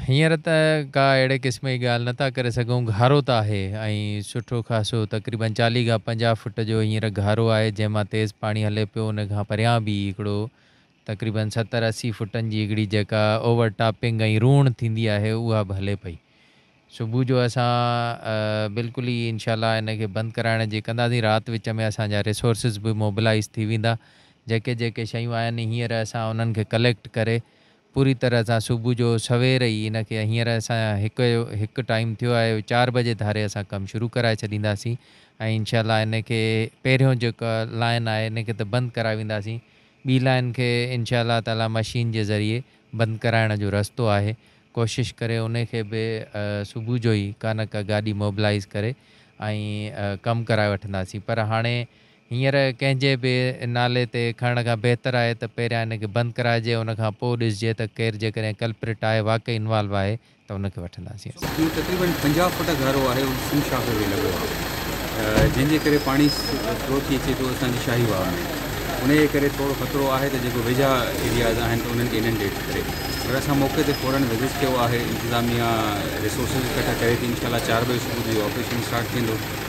هينئر ته ڪا اهڙي قسم جي ڳالهه نه ٿا ڪري سگهون، گهارو ته آهي ۽ سٺو خاصو تقريبن چاليهه کان پنجاهه فوٽ جو هينئر گهارو آهي جنهن مان تيز پاڻي هلي پيو، ان کان پريان به هڪڙو تقريبن ستر اسي فوٽن جي هڪڙي جيڪا اوور ٽاپنگ ۽ روڻ ٿيندي آهي اها به هلي پئي. صبح جو اسان بلڪل ئي انشاء الله ان کي بند ڪرائڻ جي ڪنداسين، رات وچ ۾ اسان جا ريسورسز به موبلائيز ٿي ويندا، جيڪي جيڪي شيون آهن هينئر اسان انهن کي ڪليڪٽ ڪري پوري طرح سان صبح جو سوير ئي ان کي هينئر اسان هڪ هڪ ٽائيم ٿيو آهي چار بجي ڌاري اسان ڪم شروع ڪرائي ڇڏينداسين ۽ انشاء الله ان کي پهريون جيڪا لائين آهي ان کي ته بند ڪرائي وينداسين ٻي لائين کي انشاء الله تعاليٰ مشين جي ذريعي بند ڪرائڻ جو رستو آهي ڪوشش ڪري ان کي به صبح جو ئي ڪا نه ڪا گاڏي موبلائيز ڪري ۽ ڪم ڪرائي وٺنداسين پر هاڻي هينئر ڪنهن جي به نالي تي کڻڻ کان بهتر آهي ته پهريان ان کي بند ڪرائجي ان کان پوء ڏسجي ته ڪير جيڪڏهن ڪلپريٽ آهي واقعي انوالو آهي ته ان کي وٺنداسين اسان. اهو تقريبن پنجاهه فوٽ گهرو آهي ۽ سنڌ شاخ کي لڳو آهي جنهن جي ڪري پاڻي فلو ٿي اچي ٿو اسان جي شاهي واهه ۾ ان جي ڪري ٿورو خطرو آهي ته جيڪو ويجها ايرياز آهن ته انهن کي اننڊيٽ ڪري پر اسان موقعي تي فورن وزٽ ڪيو آهي انتظاميا ريسورسز اڪٺا ڪري ٿي انشاء الله چار بجي صبح جو اهو آپريشن اسٽارٽ ٿيندو.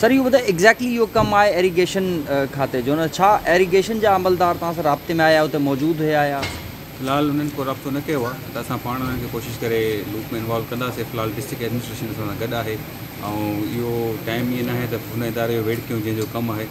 سر اهو ٻڌايو ايگزيڪٽلي اهو ڪم آهي ايريگيشن کاتي جو نه ڇا ايريگيشن جا عملدار توهان سان رابطي ۾ آيا اتي موجود هيا يا. في الحال انهن ڪو رابطو نه ڪيو آهي ته اسان پاڻ انهن کي ڪوشش ڪري لوپ ۾ انوالو ڪنداسين في الحال ڊسٽرڪٽ ايڊمنسٽريشن اسان سان گڏ آهي ۽ اهو ٽائيم ائين ناهي ته هن اداري جو ويڙهه ڪيون جنهن جو ڪم آهي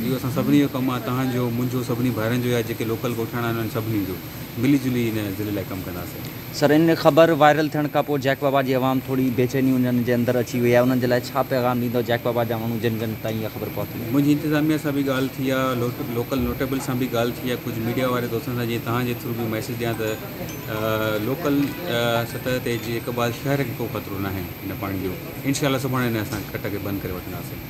اهو اسان سڀني جو ڪم آهي تهان جو منهنجو سڀني ڀائرن جو يا جيڪي لوڪل ڳوٺاڻا آهن انهن سڀني جو. ملي جلي ان ضلعي لاء ڪم ڪنداسين. سر ان خبر وائرل ٿيڻ کان پوء جئڪ بابا جي عوام ٿوري بيچيني انهن جي اندر اچي وئي آهي انهن جي لاء ڇا پيغام ڏيندؤ جئڪ بابا جا ماڻهو جن جن تائين اها خبر پهتي آهي. منهنجي انتظاميه سان به ڳالهه ٿي آهي لوڪل نوٽيبل سان به ڳالهه ٿي آهي ڪجهه ميڊيا واري دوستن سان جيئن توهان جي ٿرو به ميسيج ڏيان ته لوڪل سطح تي جي اقبال شهر کي ڪو خطرو ناهي ان پاڻي جو انشاء الله سڀاڻي ان اسان کٽ کي بند ڪري وٺنداسين.